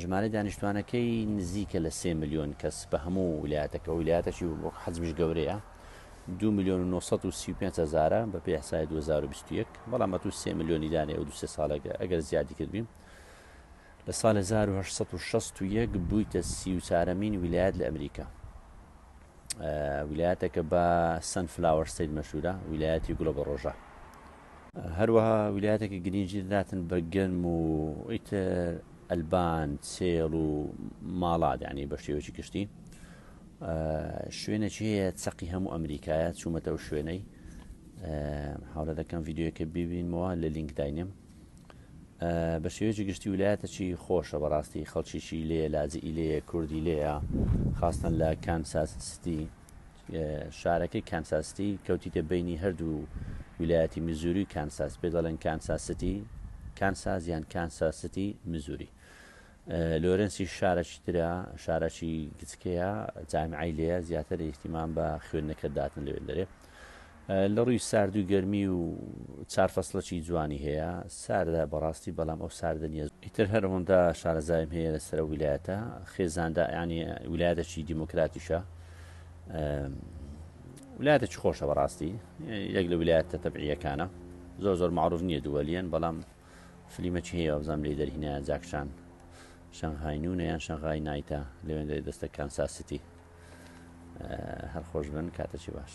ژمارەی دانیشتوانەکەی نزیکە لە سێ ملیۆن کەس بە هەموو ویلایەتەکە ویلایەتەکی وەک حەزمیش گەورەیە دو ملیۆن و 935 هزارە بە پێ حسای 2021 بەڵام ئەتو سێ ملیۆنی دانێ و دو سێ ساڵێکە ئەگەر زیادی کردبین لە سال 1961 بوویتە سی و چارەمین ویلایەت لە ئەمریکا ویلایەتەکە بە سن فلاوەر سید مەشورە ویلایەتی گوڵە بە ڕۆژە هەروەها ویلایەتەکە گرینگی دەداتن بە گەنم و ئیتر ئەلبان سێڵ و ماڵات یعنی بە شێوەی گشتی شوێنێکی هەیە چەقی هەموو ئەمریکایە چوومەتە ئەو شوێنەی حاڵە دەکەم یددیوەکە ببینمەوە لە لینک داینێم بە شێوەیەکی گشتی ویلایەتەکی خۆشە بەڕاستی خەڵکیی لێ لاجی لێ کوردی لێە خاستن لە کانساس ستی شارەکەی کانساس ستی کەوتیتە بەینی هەردوو ویلایەتی میزوری و کانساس پێ دەڵێن کانساس ستی کانساس یان کانساس ستی میزوری لۆرنسی شارەکی ترە شارەکی گچکەیە جامیعی لێە زیاتر ئیحتیمان بە خوێندنەکە داتن لەوێن دەرێ لە ڕووی سارد و گەرمی و چار فەسڵەکی جوانی هەیە ساردە بەڕاستی بەڵام ئەو ساردە نیە. ئیتر هەر ئەوەندە شارەزایم هەیە لەسەر ئەو ویلایەتە خێزاندە یانی ویلایەتەکی دیموکراتیشە ویلایەتەکی خۆشە بەڕاستی یەک لە ویلایەتە تەبعیەکانە زۆر زۆر معروف نییە دووەلیەن بەڵام فلیمەکی هەیە بزانام لی دەرهینە جاکشان شەنغهاینونە یان شەنغای نایتە لەوێن دەستە کانساسیتی هەر خۆش بن کاتەچی باش.